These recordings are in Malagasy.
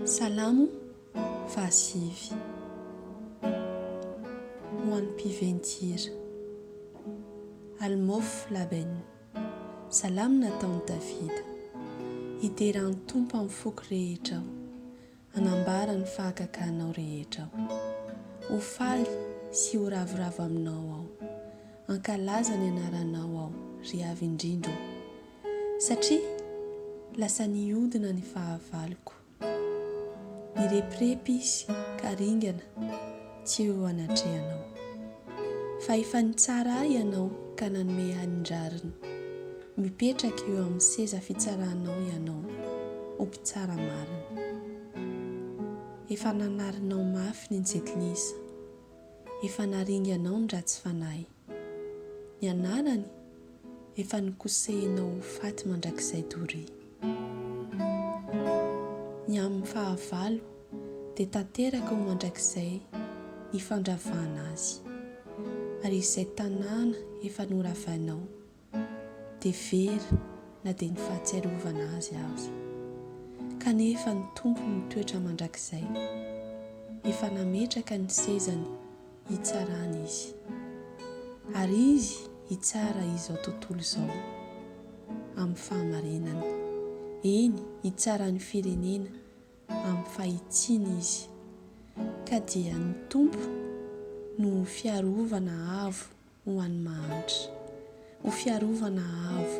Salamo fahasivy. Ho an'ny mpiventy-hira. Almôf Laben. Salamo nataon'i Davida. Hidera an'i Tompo amin'ny foko rehetra aho. Hanambara ny fahagaganao rehetra aho. Ho faly sy ho ravoravo aminao aho. Hankalaza ny anaranao aho, ry Avo Indrindra ô. Satria lasa nihodina ny fahavaloko. Nirepirepy izy ka ringana. Tsy ho anatrehanao. Fa efa nitsara ahy Ianao ka nanome ahy ny rariny. Mipetraka eo amin'ny seza fitsaranao Ianao, ho Mpitsara marina. Efa nanarinao mafy ny Jentilisa. Efa naringanao ny ratsy fanahy. Ny anarany efa nokosehina ho faty mandrakizay doria. Ny amin'ny fahavalo dia tanteraka ho mandrakizay ny fandravana azy, ary izay tanàna efa noravainao dia very na dia ny fahatsiarovana azy aza. Kanefa ny Tompo mitoetra mandrakizay. Efa nametraka ny sezany hitsarana Izy. Ary Izy hitsara izao tontolo izao amin'ny fahamarinany. Eny, hitsara ny firenena amin'ny fahitsiana Izy. Ka dia ny Tompo no ho fiarovana avo ho an'ny mahantra, ho fiarovana avo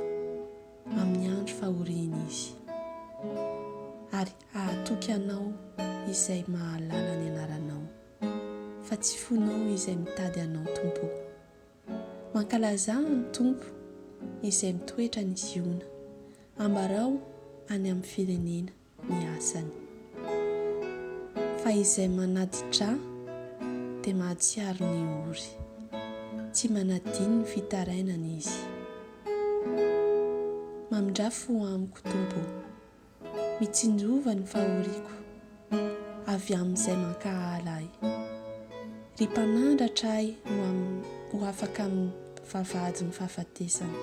amin'ny andro fahoriany Izy, ary hahatoky anao izay mahalala ny anaranao, fa tsy fonao izay mitady anao Tompo o. Mankalazà an'i Tompo izay mitoetra any Ziona, ambarao any amin'ny firenena. ny asany. Fa izay manati-dra dia mahatsiaro ny ory. Tsy manadino ny fitarainana Izy. Mamindrà fo amiko, Tompo ô. Mitsinjova ny fahoriako avy amin'izay mankahala ahy. Ry Mpanandratra ahy ho ho afaka amin'ny vavahadin'ny fahafatesana.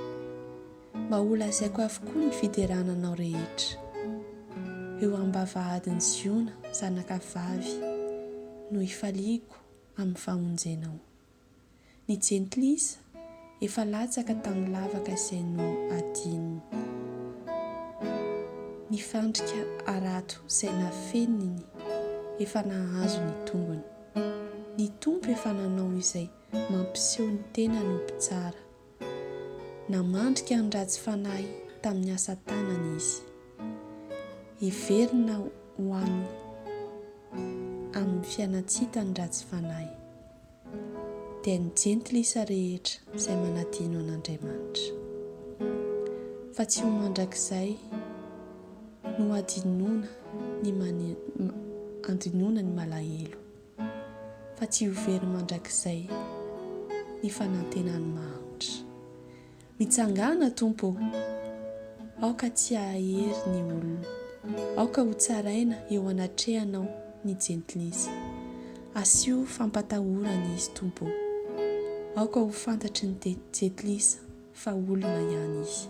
Mba holazaiko avokoa ny fiderana anao rehetra. Eo am-bavahadin'i Ziona, zanaka vavy, no hifaliako amin'ny famonjenao. Ny jentilisa efa latsaka tamin'ny lavaka izay nohadininy. Ny fandrika harato izay nafeniny efa nahazo ny tongony. Ny Tompo efa nanao izay mampiseho ny tenany ho mpitsara. Namandrika ny ratsy fanahy tamin'ny asa tanany izy. Heverina ho any amin'ny fianan-tsita ny ratsy fanahy, dia ny jentilisa rehetra izay manadino an'Andriamanitra. Fa tsy ho mandrakizay no hadinoana ny, andinoana ny malahelo. fa tsy ho very mandrakizay ny fanantenany mahantra. Mitsangàna, Tompo ô! Aoka tsy hahahery ny olona. Aoka hotsaraina eo anatrehanao ny jentilisa. Asio fampatahorana izy, Tompo ô! Aoka ho fantatry ny jentilisa fa olona ihany izy.